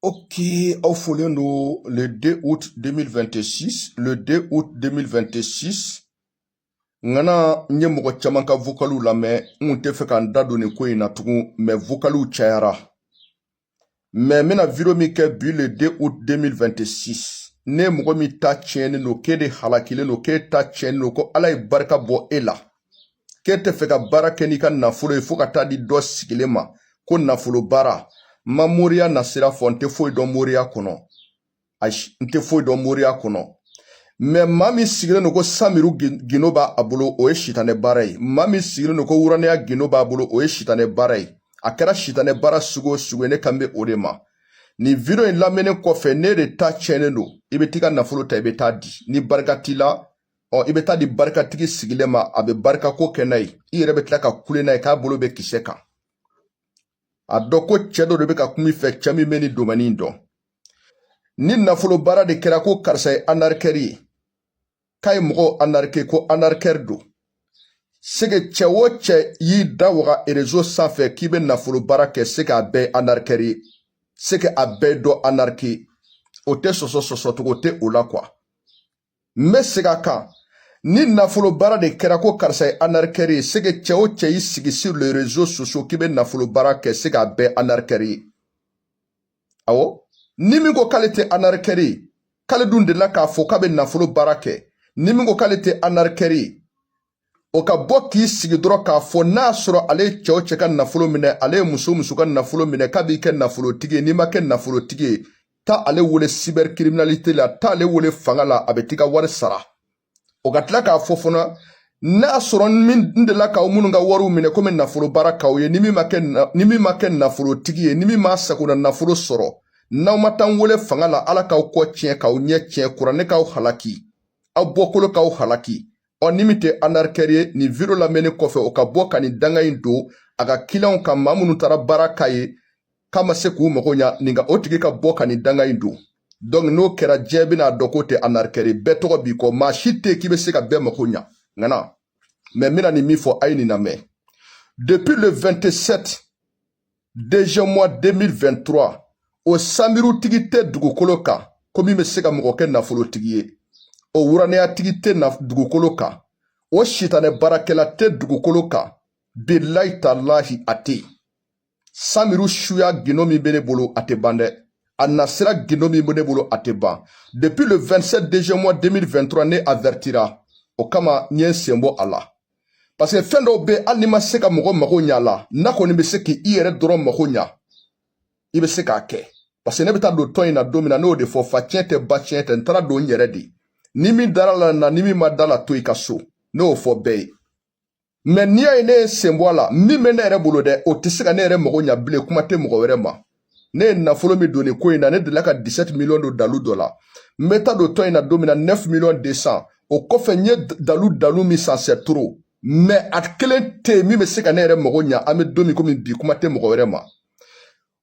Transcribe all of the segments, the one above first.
Ok aw folen don le 2 août 2026 le 2 août 2026 ŋana n ye mɔgɔ caman ka vokaliw lamɛn n tɛ fɛ ka n da don nin ko in na tugun mɛ vokaliw cayara mɛ n bɛna video min kɛ bi le 2 août 2026 ne mɔgɔ min ta tiɲɛnen don k'e de halakilen don k'e ta tiɲɛnen don ko ala ye barika bɔ e la k'e tɛ fɛ ka baara kɛ n'i ka nafolo ye fo ka taa di dɔ sigilen ma ko nafolo baara n ma moriya nasira fɔ n tɛ foyi dɔn moriya kɔnɔ ayi n tɛ foyi dɔn moriya kɔnɔ mɛ maa min sigilen don ko samiru gindo b'a bolo o ye sitanɛ baara ye maa min sigilen don ko wuranɛya gindo b'a bolo o ye sitanɛ baara ye a kɛra sitanɛ baara sugu o sugu ye ne kan bɛ o de ma nin video in lamɛnnen kɔfɛ ne de ta tiɲɛnen don i bɛ t'i ka nafolo ta i bɛ taa di ni barika t'i la ɔ i bɛ taa di barikatigi sigilen ma a bɛ barikako kɛ n'a ye i yɛrɛ bɛ tila ka kule n'a ye k'a bolo bɛ kisɛ kan a dɔn ko cɛ dɔ de bɛ ka kuma i fɛ cɛ min bɛ nin domɛni in dɔn ni nafolo baara de kɛra ko karisa ye anarikɛri ye k'a ye mɔgɔw anarike ko anarikɛri don c'est que cɛ o cɛ y'i da waga réseau sanfɛ k'i bɛ nafolo baara kɛ c'est que a bɛɛ anarikɛri ye c'est que a bɛɛ dɔ anarike o tɛ sɔsɔ sɔsɔcogo tɛ o la quoi n bɛ segin a kan ni nafolo baara de kɛra ko karisa ye anarikɛri ye c'est que cɛ o cɛ y'i sigi sur les réseaux sociaux k'i bɛ nafolo baara kɛ c'est que a bɛɛ anarikɛri ye awɔ ni min ko k'ale tɛ anarikɛri ye k'ale dun delila k'a fɔ k'a bɛ nafolo baara kɛ ni min ko k'ale tɛ anarikɛri ye o ka bɔ k'i sigi dɔrɔn k'a fɔ n'a sɔrɔ ale ye cɛ o cɛ ka nafolo minɛ ale ye muso o muso ka nafolo minɛ k'a b'i kɛ nafolotigi ye n'i ma kɛ nafolotigi ye taa ale wele cybercriminalité la taa ale wele fanga la a bɛ t'i ka wari sara o ka tila k'a fɔ fana n'a sɔrɔ n delila k'aw minnu ka wariw minɛ komi nafolo baara k'aw ye ni min ma kɛ nafolotigi ye ni min ma sagona nafolo sɔrɔ n'aw ma taa n wele fanga la ala k'aw kɔ tiɲɛ k'aw ɲɛ tiɲɛ kuranɛ k'aw halaki aw bɔkolo k'aw halaki ɔ ni min tɛ anarikɛri ye nin video lamɛnnen kɔfɛ o ka bɔ ka nin danga in don a ka kiliyanw kan maa minnu taara baara k'a ye k'a ma se k'u mago ɲa nin ka o tigi ka bɔ ka nin danga in don donc n'o kɛra diɲɛ bɛna a dɔn k'o tɛ anarikɛri ye bɛɛ tɔgɔ b'i kɔ maa si tɛ k'i bɛ se ka bɛɛ mago ɲa ŋana mɛ n bɛna nin min fɔ a ye nin lamɛn depuis le 27 deuxième mois 2023 o sanbirutigi tɛ dugukolo kan ko min bɛ se ka mɔgɔ kɛ nafolotigi ye o wuranɛyatigi tɛ dugukolo kan o sitanɛ baarakɛla tɛ dugukolo kan bilahi talahi a tɛ yen sanbiru suya gindo min bɛ ne bolo a tɛ ban dɛ a nasira gindo min bɛ ne bolo a tɛ ban depuis le 27 deuxième mois 2023 ne avertira o kama n ye n sen bɔ a la parce que fɛn dɔw bɛ hali n'i ma se ka mɔgɔ mago ɲa la n'a kɔni bɛ se k'i yɛrɛ dɔrɔn mago ɲa i bɛ se k'a kɛ parce que ne bɛ taa don tɔn in na don min na ne y'o de fɔ fa tiɲɛ tɛ ba tiɲɛ tɛ n taara don n yɛrɛ de ni min dara la na ni min ma da la to i ka so ne y'o fɔ bɛɛ ye mais n'i y'a ye ne ye sen bɔ a la min bɛ ne yɛrɛ bolo dɛ o tɛ se ka ne yɛrɛ mago ɲa bilen kuma tɛ mɔgɔ wɛrɛ ma ne ye nafolo min don nin ko in na ne delila ka 17 miliyɔn don dalu dɔ la n bɛ taa don tɔn in na don min na 9 miliyɔn 200 o kɔfɛ n ye dalu dalu min san c'est trop mais a kelen tɛ yen min bɛ se ka ne yɛrɛ mago ɲa an bɛ don min komi bi kuma tɛ mɔgɔ wɛrɛ ma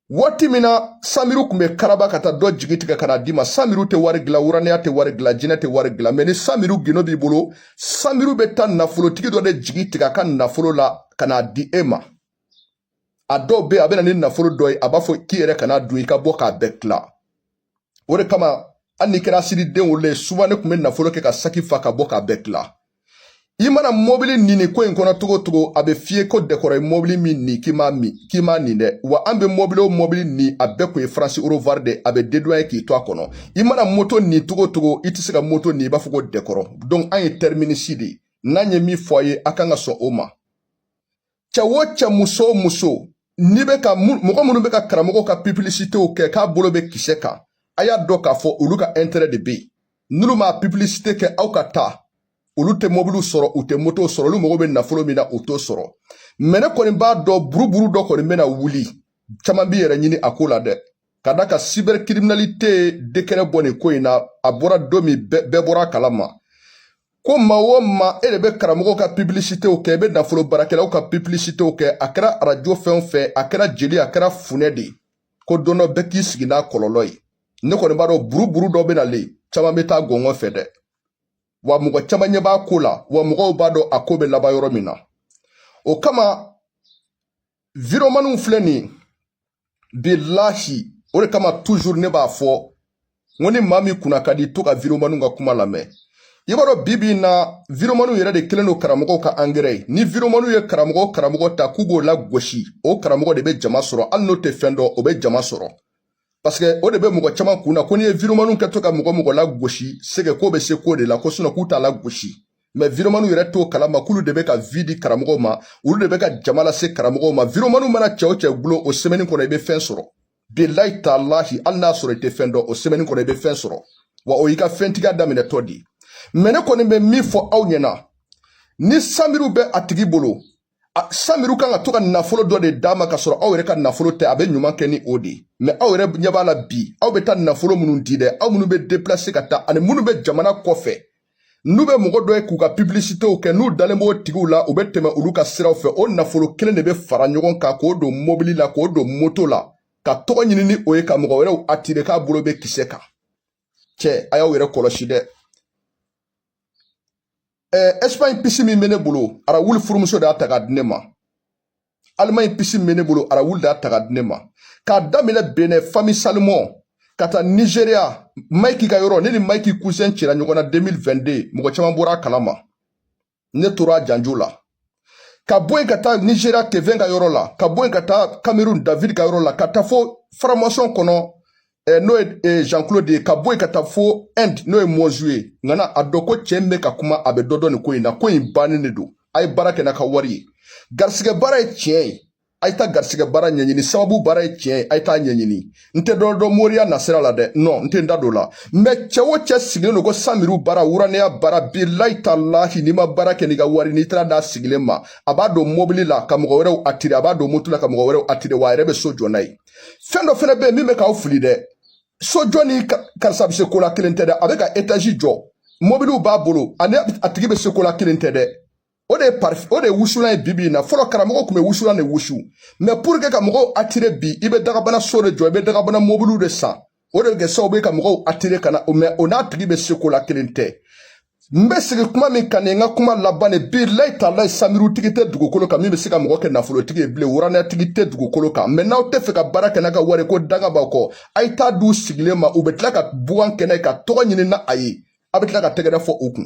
waati min na samiru tun bɛ karaba ka taa dɔ jigi tigɛ ka n'a d'i ma samiru tɛ wari dilan wuranaya tɛ wari dilan jinɛ tɛ wari dilan mais ni samiru gino b'i bolo samiru bɛ taa nafolotigi dɔ de jigi tigɛ a ka nafolo la ka n'a di e ma a dɔw bɛ yen a bɛ na ni nafolo dɔ ye a b'a fɔ k'i yɛrɛ kana dun i ka bɔ k'a bɛɛ tila o de kama hali n'i kɛra siriden wolo ye souvent ne tun bɛ nafolo kɛ ka saki fa ka bɔ k'a bɛɛ tila i mana mɔbili ni nin ko in kɔnɔ togo togo a bɛ f'i ye ko dɛkɔrɔ ye mɔbili min ni k'i m'a min k'i m'a ni dɛ wa an bɛ mɔbili o mɔbili ni a bɛɛ tun ye France au revoir de a bɛ dédouaner k'i to a kɔnɔ i mana moto ni togo togo i tɛ se ka moto ni i b'a fɔ ko dɛkɔrɔ donc an ye tɛriminisi de ye n'an ye min fɔ a ye a kan ka sɔn o ma cɛ o cɛ muso o muso n'i bɛ ka mɔgɔ minnu bɛ ka karamɔgɔ ka pibilisitew kɛ k'a bolo bɛ kisɛ kan a y'a dɔn k'a fɔ olu ka ɛntɛrɛ de bɛ yen n'olu ma pibilisite kɛ aw ka taa olu tɛ mɔbiliw sɔrɔ u tɛ motow sɔrɔ olu mago bɛ nafolo min na u t'o sɔrɔ mais ne kɔni b'a dɔn buruburu dɔ kɔni bɛna wuli caman b'i yɛrɛ ɲini a ko la dɛ ka d'a kan cybercriminalité décret bɔ nin ko in na a bɔra don min bɛɛ bɔra a kalama ko maa o maa e de bɛ karamɔgɔw ka pibilisitew kɛ i bɛ nafolo baarakɛlaw ka pibilisitew kɛ a kɛra arajo fɛn o fɛn a kɛra jeli a kɛra funɛ de ye ko don dɔ bɛɛ k'i sigi n'a kɔlɔlɔ ye ne kɔni b'a dɔn buruburu dɔ bɛ na le caman bɛ taa gɔngɔn fɛ dɛ wa mɔgɔ caman ɲɛ b'a ko la wa mɔgɔw b'a dɔn a ko bɛ laban yɔrɔ min na o kama viromaniw filɛ nin ye bilahi o de kama toujours ne b'a fɔ n ko ni maa min kunna ka di to ka viromaniw ka kuma lamɛn i b'a dɔn bi bi in na viromaniw yɛrɛ de kelen don karamɔgɔw ka angɛrɛ ye ni viromaniw ye karamɔgɔ o karamɔgɔ ta k'u b'o lagosi o karamɔgɔ de bɛ jama sɔrɔ hali n'o tɛ fɛn dɔn o bɛ jama sɔrɔ parce que o de bɛ mɔgɔ caman kun na ko n'i ye viromaniw kɛtɔ ka mɔgɔ o mɔgɔ lagosi c'est que k'o bɛ se ko de la ko sinon k'u t'a lagosi mais viromaniw yɛrɛ t'o kalama k'olu de bɛ ka vie di karamɔgɔw ma olu de bɛ ka jama lase karamɔgɔw ma viromaniw mana cɛ o cɛ kulo o sɛmɛni kɔnɔ i bɛ fɛn sɔrɔ bilayi talahi hali n'a sɔrɔ i tɛ fɛn dɔn o sɛmɛni kɔnɔ i bɛ fɛn sɔrɔ wa o y'i ka fɛntigiya daminɛtɔ de ye mais ne kɔni bɛ min fɔ aw ɲɛna ni samiru bɛ a tigi bolo samiru kan ka to ka nafolo dɔ de d'a ma ka sɔrɔ aw yɛrɛ ka nafolo tɛ a bɛ ɲuman kɛ ni o de mɛ aw yɛrɛ ɲɛ b'a la bi aw bɛ taa nafolo minnu di dɛ aw minnu bɛ deplase ka taa ani minnu bɛ jamana kɔfɛ n'u bɛ mɔgɔ dɔ ye k'u ka pibilisitew kɛ n'u dalen b'o tigiw la u bɛ tɛmɛ olu ka siraw fɛ o nafolo kelen de bɛ fara ɲɔgɔn kan k'o don mobili la k'o don moto la ka tɔgɔ ɲini ni o ye ka mɔgɔ wɛrɛw atire k'a bolo bɛ kisɛ kan cɛ a y'aw yɛrɛ kɔlɔsi dɛ ɛsipaɲi pisi min bɛ ne bolo arawuli furumuso de y'a ta k'a di ne ma alimaɲi pisi min bɛ ne bolo arawuli de y'a ta k'a di ne ma k'a daminɛ benɛn fami salomɔn ka taa nigeria maiki ka yɔrɔ ne ni maiki kusen cira ɲɔgɔn na 2022 mɔgɔ caman bɔra a kalama ne tora a janjo la ka bɔ yen ka taa nigeria kevin ka yɔrɔ la ka bɔ yen ka taa cameroun david ka yɔrɔ la ka taa fo faramasɔn kɔnɔ eh, n'o ye eh, jean claude ye ka bɔ yen ka taa fo inde n'o ye mozu ye nka na a dɔn ko cɛ min bɛ ka kuma a bɛ dɔ dɔn nin ko in na ko in bannen de don a ye baara kɛ n'a ka wari ye garisigɛ baara ye tiɲɛ ye a ye taa garisigɛ baara ɲɛɲini sababu baara ye tiɲɛ ye a ye taa ɲɛɲini n tɛ dɔ dɔn moriya nasira la dɛ non n tɛ n da don la mɛ cɛ o cɛ sigilen don ko samiru baara wuranɛya baara bilayi talayi n'i ma baara kɛ n'i ka wari n'i taara d'a sigilen ma a b'a don mobili la ka mɔgɔ wɛrɛw atire a b'a don moto la ka mɔgɔ wɛrɛw atire wa a yɛrɛ bɛ so jɔ n'a ye fɛn dɔ fɛnɛ bɛ yen min bɛ k'aw fili dɛ sojɔ ni karisa bɛ se ko la kelen tɛ dɛ a bɛ ka etazi jɔ mobiliw b'a bolo ani a tigi bɛ se ko la kelen tɛ dɛ o de ye pari o de ye wusulan ye bibi in na fɔlɔ karamɔgɔ tun bɛ wusulan de wusu mɛ puruke ka mɔgɔw atire bi i bɛ dagabana so de jɔ i bɛ dagabana mobiliw de san o de bɛ kɛ sababu ye ka mɔgɔw atire ka na mɛ o n'a tigi bɛ se ko la kelen tɛ n bɛ sigi kuma min kan nin n ka kuma laban de bilayi talayi samirutigi tɛ dugukolo kan min bɛ se ka mɔgɔ kɛ nafolotigi ye bilen wuranɛyatigi tɛ dugukolo kan mɛ n'aw tɛ fɛ ka baara kɛ n'a ka wari ko danga b'aw kɔ a ye taa d'u sigilen ma u bɛ tila ka bugan kɛ n'a ye ka tɔgɔ ɲini n'a ye a bɛ tila ka tɛgɛrɛ fɔ u kun